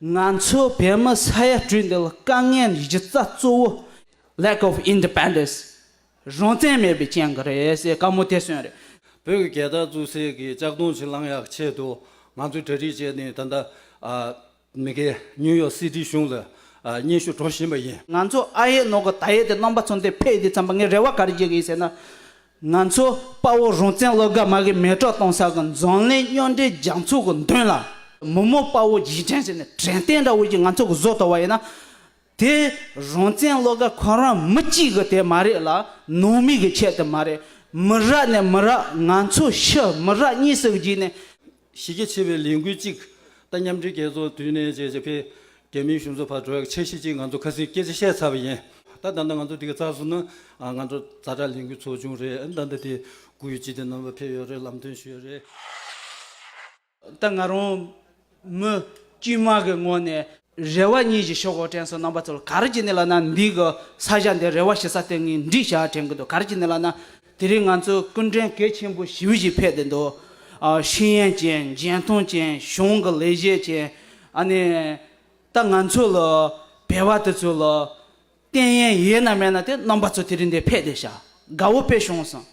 ང་ཚོས་བོད་མི་ས་ཡ་སྤྲུལ་འདི་ལ་དཀའ་ངལ་འདི་གཞི་རྩ་གཙོ་བོ Lack of Independence རང་བཙན་མེད་པའི་རྐྱེན་གྱིས་རེད་ཟེར་དཀའ་མོ་དེ་སོན་རེད། བོད་ཀྱི་རྒྱལ་དར་བཙུགས་སའི་གི་ལྕགས་སྡོང་ཕྱིར་བླང་ཡག་ཆེད་དུ་ང་ཚོས་གྲ་སྒྲིག་བྱས་ནས་ད་ལྟ་མི་གེ New York City གཞུང་ལ་སྙན་ཞུ་འགྲོ་བཞིན་པ་ཡིན། ང་ཚོ་ཨ་ཡེ་ནོ་གི་ད་ཡེ་དེ་རྣམ་པ་ཚོ་འདི་ཕེ་འདི་ཙམ་པ་ངའི་རེ་བ་ག་རེ་བྱེད་ཀྱི་ཡིན་ཟེར་ན། ང་ཚོ་དཔའ་བོ་རོང་བཙན་སློབ་དགའ་མ་གིས་མེ་གྲོགས་གཏོང་ས་གི་འཛམ་གླིང་སྨྱོ་འདྲེ་རྒྱང་ཚུགས་ཀྱི་མདུན་ལ། མི་མོ་དཔའ་བོ་རྗེས་དྲན་བྱས་ནས་དྲན་རྟེན་འདྲ་བོ་ཞིག་ང་ཚོ་གི་བཟོ་ཐུབ་པ་ཡིན་ན། དེ་རོང་བཙན་སློབ་དགའ་ཁོ་རང་མི་གཅིག་གི་དེ་མ་རེད་ལ་ནང་མི་གི་ཁྱད་དེ་མ་རེད། མི་རག་ནས་མི་རག་ང་ཚོ་ཕྱི་མི་རག་གཉིས་སུ་བརྗེས་ནས། གཞི་རྒྱ་ཆེ་བའི་ལས་འགུལ་གཅིག་དང་མཉམ་འབྲེལ་རྒྱལ་ཚོགས་དུས་གནས་བཅས་བྱེད་པའི་རྒྱལ་མིའི་གཞུང་ཚོགས་བར་འགྲོ་བའི་ཆ་ཤས་ཅིག་ང་ཚོ་ཁ་སེང་སྐད་ཆ་བཤད་ཚར་བ་ཡིན། ད་ལྟ་ང་ཚོ་འདི་གའི་རྩ་གཟུགས་ནང་ང་ཚོ་རྩ་གྲྭ་ལས་འགུལ་ཚོགས་ཆུང་རེད་ད་ལྟ་དེ་དགུ་ཡོད་སྤྱི་བདེ་རྣམ་པ་ཕེབས་ཡོད་རེད་ལམ་སྟོན་ཞུས་ཡོད་རེད། ད་ང་རང་མི་དཀྱུས་མ་གི་ངོས་ནས། རེ་བ་གཉིས་ཀྱི་ཤོག་འོག་དྲན་སོང་རྣམ་པ་ཚོར་ག་རེ་ཀྱི་ནི་ལ་ན་འདི་གི་ས་གཞའ་འདི་རེ་བ་ཞེ་ས་སྟེང་གི་འདྲིས་གཞའ་དྲན་གི་འདུག་ག་རེ་ཀྱི་ནི་ལ་ན་དེ་རིང་ང་ཚོའི་ཀུན་དྲན་གལ་ཆེན་པོ་བཞི་བཞི་ཕེབས་བསྡད་འདུག་ཤེས་ཡན་ཅན་རྒྱན་མཐོང་ཅན་གཞུང་གི་ལས་བྱེད་ཅན་ཨ་ནི་ད་ང་ཚོ་ལ་བལ་བ་དེ་ཚོ་ལ་རྟེན་ཡན་ཡོད་ན་མེད་ན་དེ་རྣམ་པ་ཚོ་དེ་རིང་འདིར་ཕེབས་ཏེ་བྱ་དགའ་བོ་དཔེ་བྱུང་གསུངས།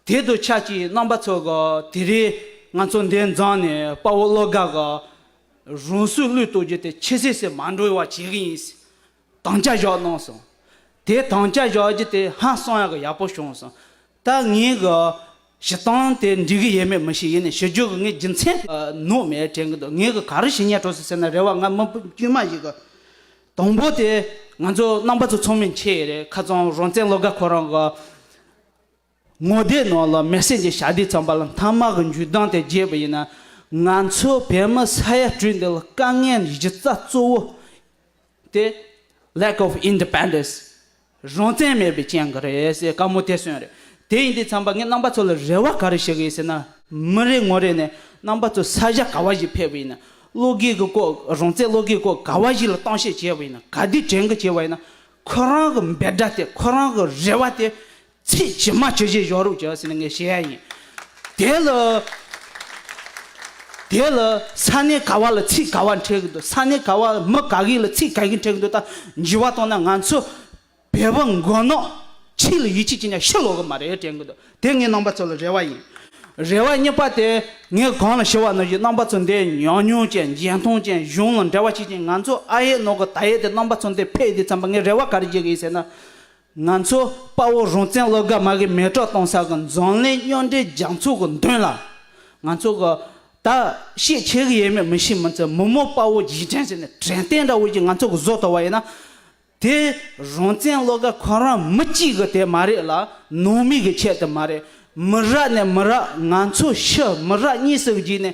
དེ་དུ་ཆ་གཅིག་རྣམ་པ་ཚོ་ག་དེ་རིང་ང་ཚོ་འདི་མཛངས་ནས་དཔའ་བོ་བློ་དགའ་ག་རུང་བསུ་བླུས་གཏོད་རྒྱུ་དེ་ཆེ་སེ་སེ་མ་འགྲོ་བ་བྱེད་གི་ཡིན། དང་བྱ་བཞག་གནང་གསུངས། དེ་དང་བྱ་བཞག་རྒྱུ་དེ་ཧང་སངས་ཡག་ག་ཡག་པོ་བྱུང་གསུངས། ད་ངས་ག་ཞེ་སྡང་དེ་འགྲིག་གི་ཡེད་མེད་མི་ཤེས་ཡེ་ནས་ཤེས་རྒྱུ་གི་ངའི་རྒྱུ་མཚན་ནོ་མེད་དྲན་གི་འདུག་ངའི་གི་ག་རེ་ཞིག་ཉལ་འགྲོ་སྲིད་ཟེར་ན་རེ་བ་ང་མི་བུ་དཀྱུས་མ་ཞིག་གི་དང་པོ་དེ་ང་ཚོ་རྣམ་པ་ཚོ་ཚོགས་མི་འཁྱེར་ཡེ་རེད་ཁ་ཙང་རང་བཙན་ལོ་ག་ཁོ་རང་གི་ངོ་དེ་ནང་ལ་མེ་སྲེག་འདི་ཞག་དུས་ཙམ་པ་ལ་མཐའ་དམག་གི་འཇུ་སྡང་དེ་རྒྱས་པ་ཡིན་ན་ང་ཚོ་བོད་མི་ས་ཡ་སྤྲུལ་འདི་ལ་དཀའ་ངལ་གཞི་རྩ་གཙོ་བོ་དེ། Lack of Independence། རང་བཙན་མེད་པའི་རྐྱེན་གྱིས་རེད་ཟེར་དཀའ་མོ་དེ་སོན་རེད། དེ་ཡིན་དུས་འཚམས་པ་ངས་རྣམ་པ་ཚོ་ལ་རེ་བ་ག་རེ་བྱེད་ཀྱི་ཡིན་ཟེར་ན། མི་རེ་ངོ་རེ་ནས་རྣམ་པ་ཚོ་ས་གཞག་ག་བ་ཞིག་ཕེབས་པ་ཡིན་ན། བློ་སྒེར་གྱི་སྐོར་རང་བཙན་བློ་སྒེར་སྐོར་ག་བ་ཞིག་ལ་གཏམ་བཤད་བྱས་པ་ཡིན་ན་ག་དུས་དྲན་གི་བྱས་པ་ཡིན་ན། ཁོ་རང་གི་འབད་སྒྲ་དེ་ཁོ་རང་གི་རེ་བ་དེ་ཚེ་ཇི་མ་ཇི་བཞིན་གཞོགས་རོགས་བྱོས་ཟེར་ནས་ངས་བཤད་ཡ་ཡིན། དེ་ལ། དེ་ལ། ས་གནས་ག་བ་ལ་ཚིག་ག་བ་འཕྲད་གི་འདུག་ས་གནས་ག་བ་མི་ག་གེ་ལ་ཚིག་ག་གེ་འཕྲད་གི་འདུག་ད་འཇི་བ་གཏོང་ན་ང་ཚོ་བལ་བོ་མགོ་ནག་ཕྱི་ལ་ཡིད་ཆེས་ཀྱི་ནས་ཤི་ལོག་གི་མ་རེད་དྲན་གི་འདུག་དེ་ངའི་རྣམ་པ་ཚོ་ལ་རེ་བ་ཡིན། རེ་བ་གཉིས་པ་དེ་ངས་གང་ལ་ཞུ་བ་ནི་བཞི་རྣམ་པ་ཚོ་འདི་ཉག་ཉོག་ཅན་བརྒྱན་ཐུང་ཅན་གཞུང་ལ་འབྲེལ་བ་བྱེད་ཅིང་ང་ཚོ་ཨ་ཡེ་ནོག་གི་ད་ཡེ་དེ་རྣམ་པ་ཚོ་འདི་ཕལ་དེ་འཚམ་པ་ངས་རེ་བ་ག་རེ་བྱེད་གི་ཡིན་ཟེར་ན། ང་ཚོ་དཔའ་བོ་རང་བཙན་སློབ་གྲྭ་མ་གི་མེ་གྲོགས་གཏོང་ས་གི་འཛམ་གླིང་སྨྱོ་འདྲེ་རྒྱ་མཚོ་གི་མདུན་ལ། ང་ཚོ་གི་ད་ཤེས་བྱེད་གི་ཡས་མས་མི་ཤེས་མི་འཚལ་མི་མོ་དཔའ་བོ་རྗེས་དྲན་བྱས་ནས་དྲན་རྟེན་འདྲ་བོ་ཞིག་ང་ཚོ་གི་བཟོ་ཐུབ་པ་ཡིན་ན། དེ་རང་བཙན་སློབ་གྲྭ་ཁོ་རང་མི་གཅིག་གི་དེ་མ་རེད་ལ་ནང་མི་གི་ཆེད་དེ་མ་རེད། མི་རག་ནས་མི་རག་ང་ཚོ་ཕྱི་མི་རག་གཉིས་སུ་བརྗེས་ནས་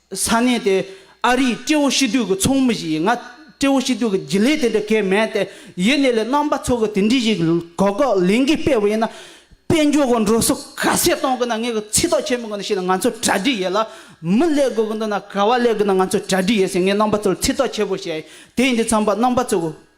ས་གནས་དེའི་ཨ་རིའི་ཀྲེའོ་ཤི་ཏུའུ་གི་ཚོགས་མི་ཞིག་ཡིན། ང་ཀྲེའོ་ཤི་ཏུའུ་གི་རྒྱུན་ལས་དེ་འདྲ་གས་མེད་དེ། ཡེ་ནས་ལས་རྣམ་པ་ཚོགས་གི་དེ་འདྲི་ཞིག་གོ་གོ་ལེན་གི་སྤེལ་བ་ཡིན་ན། དཔལ་འབྱོར་གི་འགྲོ་སོང་ག་ཚད་གཏོང་གི་ན་ངས་གི་ཚིག་ཐོག་ཆེན་མོ་གི་ན་བཤད་ན་ང་ཚོ་གྲ་སྒྲིག་ཡེད་ལ། མི་གླས་དགོས་གི་འདུག་ན་ག་བ་གླས་གི་ན་ང་ཚོ་གྲ་སྒྲིག་ཡེད་ཟེར་ངས་རྣམ་པ་ཚོར་ཚིག་ཐོག་ཆེན་པོ་བཤད་ཡིན་དེ་ཡིན་དུས་ཚང་པ་རྣམ་པ་ཚོ་གི་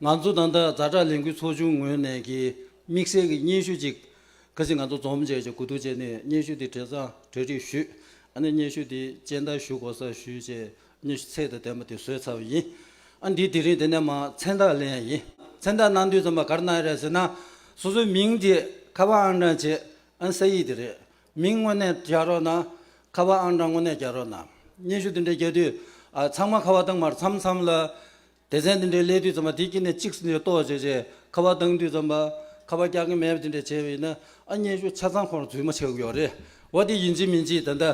ང་ཚོ་ད་ལྟ་རྫ་དྲག་ལས་འགུལ་ཚོགས་ཆུང་ངོས་ནས་ཀྱི་དམིགས་བསལ་གྱི་སྙན་ཞུ་གཅིག་གལ་སྲིད་ང་ཚོ་རྫོང་བཅས་ཀྱི་གོ་བསྡུར་བྱས་ནས་སྙན་ཞུ་དེ་གྲས་གཙང་གྲས་སྒྲིག་ཞུས་ཨ་ནི་སྙན་ཞུ་དེ་སྤྱན་བསྟར་ཞུ་དགོ་ས་ཞུས་བཅས་སྙན་ཞུ་ཚད་དང་ལྡན་པ་དེ་བཟོས་ཚར་བ་ཡིན་ཨ་འདི་དེ་རིང་དེ་ནས་མ་མཚན་རྟགས་ལེན་ཡ་ཡིན། མཚན་རྟགས་གནང་དུས་རྩོམ་པ་གར་གནང་ཡ་རེད་ཟེར་ན་སོ་སོའི་མིང་དེ་ཁ་པར་ཨང་གྲངས་བྱས་ཨ་ས་ཡིག་དེ་རེད་མིང་དངོས་གནས་རྒྱག་རོགས་གནང་ཁ་པར་ཨང་གྲངས་དངོས་གནས་རྒྱག་རོགས་གནང་སྙན་ཞུ་དེ་འདྲ་རྒྱག་དུས་ཨ་ཚང་མ་ཁ་བ་བཏང་མར་མཚམས་མཚམས་ལ་སྡེ་ཚན་འདི་འདྲའི་སླད་དུས་ཙམ་པ་དེ་གྱིས་ནས་གཅིག་ཟིན་ཏེ་ཏོག་བྱས་རྗེས་ཁ་བ་བཏང་དུས་ཙམ་པ་ཁ་བ་སྐྱག་གི་མེད་པ་དེ་འདྲས་བྱས་པ་ཡིན་ན་ཨ་མྱེས་ཤུགས་ཆ་ཚང་ཁོང་ར་རྫུན་མ་བྱེད་དགོས་པ་རེད་བ་དེ་ཡིན་གཅིག་མིན་གཅིག་ད་ལྟ་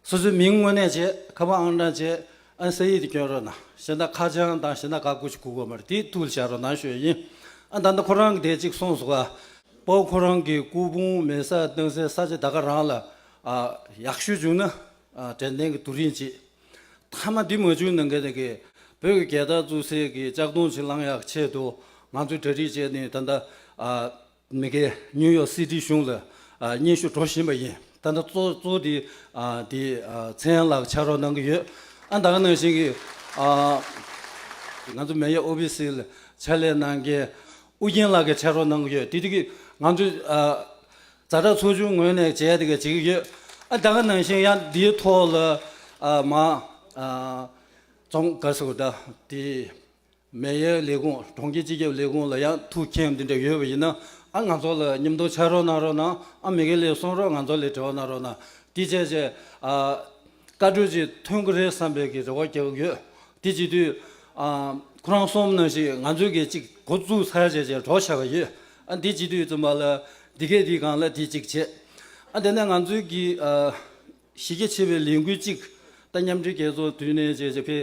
སོ་སོའི་མིང་དངོས་གནས་བྱས་ཁ་བ་ཨང་གྲངས་བྱས་ཨ་ས་ཡིག་དེ་སྐྱོན་རོགས་གནང་ཞེ་ན་ཁ་བྱང་དང་ཞེ་ན་ག་གུ་ཞིག་གུག་པ་མ་རེད་དེ་ཐུགས་ལ་བཞག་རོགས་གནང་ཞུ་ཡ་ཡིན་ཨ་ད་ལྟ་ཁོ་རང་གི་དེ་གཅིག་གསུངས་སོ་ག། པོ་ཁོ་རང་གི་སྐུ་ཕུང་མེ་སར་བཏང་སའི་ས་ཆ་ད་ག་རང་ལ་ཡག་ཤོས་བྱུང་ན་དྲན་རྟེན་གྱི་དུ་རིན་གཅིག། མཐའ་མ་འདི་མ་བྱུང་ན་གལ་ཏེ་གིས་བོད་ཀྱི་རྒྱལ་དར་བཙུགས་སའི་གི་ལྕགས་སྡོང་ཕྱིར་བླང་ཡག་ཆེད་དུ་ང་ཚོས་གྲ་སྒྲིག་བྱས་ནས་ད་ལྟ་མི་གེ་ནིའུ་ཡོག་སི་ཏི་གཞུང་ལ་སྙན་ཞུ་འགྲོ་བཞིན་པ་ཡིན་ད་ལྟ་གཙོ་གཙོ་དེ་དེ་ཚེ་ཡང་ལགས་ཕྱག་རོགས་གནང་གི་ཡོད་ཨ་འདང་ནང་བཞིན་གི་ང་ཚོ་མེ་ཡོ་ཨོ་བི་སི་ལ་ཕྱག་ལས་གནང་མཁན་ཨུ་རྒྱན་ལགས་ཀྱི་ཕྱག་རོགས་གནང་གི་ཡོད་དེ་དུས་ཀྱི་ང་ཚོས་བཟའ་བྲག་ཚོགས་ཆུང་ངོས་ནས་བྱས་དེ་ག་ཅིག་ཡོད་ཨ་ད་ག་ནང་བཞིན་ཡང་འདིའི་ཐོག་ལ་ཨ་མ་ཙོང་ག་སོགས་ད་དེ་མེ་ཡའི་ལས་ཁུངས་གྲོང་ཁྱེར་སྤྱི་ཁྱབ་ལས་ཁུངས་ལ་ཡང་ཐུག་མཁན་འདི་འདྲ་ཡོད་པ་ཡིན་ན་ཨ་ང་ཚོ་ལ་མཉམ་འདོགས་བྱ་རོགས་གནང་རོགས་གནང་ཨ་མི་གེ་ལེ་སོང་རོགས་ང་ཚོ་ལས་བྲེལ་བ་གནང་རོགས་གནང་དེ་བྱས་བྱས་ཨ། བཀའ་གྲོས་ཅིག་ཐོན་གི་རེད་བསམ་པའི་གི་རེ་བ་རྒྱག་གི་ཡོད། དེ་བྱེད་དུས། ཁོ་རང་གསུམ་ནང་བཞིན་ང་ཚོས་གི་ཅིག་འགོ་བཙུགས་ཚར་བྱས་བྱས་གྲོགས་བྱས་པ་ཡོད། ཨ་དེ་བྱེད་དུས་བཙུན་པ་ལ་དེ་སྐད་དེ་གང་ལ་དེ་ཅིག་བྱས། ཨ་དེ་ནས་ང་ཚོས་གི། གཞི་རྒྱ་ཆེ་བའི་ལས་འགུལ་ཅིག་ད་མཉམ་འབྲེལ་རྒྱལ་ཚོགས་དུས་ནས་བྱས་བྱས་གི།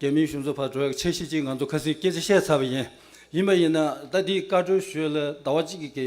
རྒྱ་མིའི་གཞུང་ཚོགས་བར་དྲོ་བའི་འཆར་གཞི་ཅིག་ང་ཚོ་ཁ་སིང་སྐད་ཆ་བཤད་ཚར་བ་ཡིན། ཡིན་པ་ཡིན་ན་ད་དེ་བཀའ་གྲོས་ཞུས་ལ་ཟླ་བ་གཅིག་གི།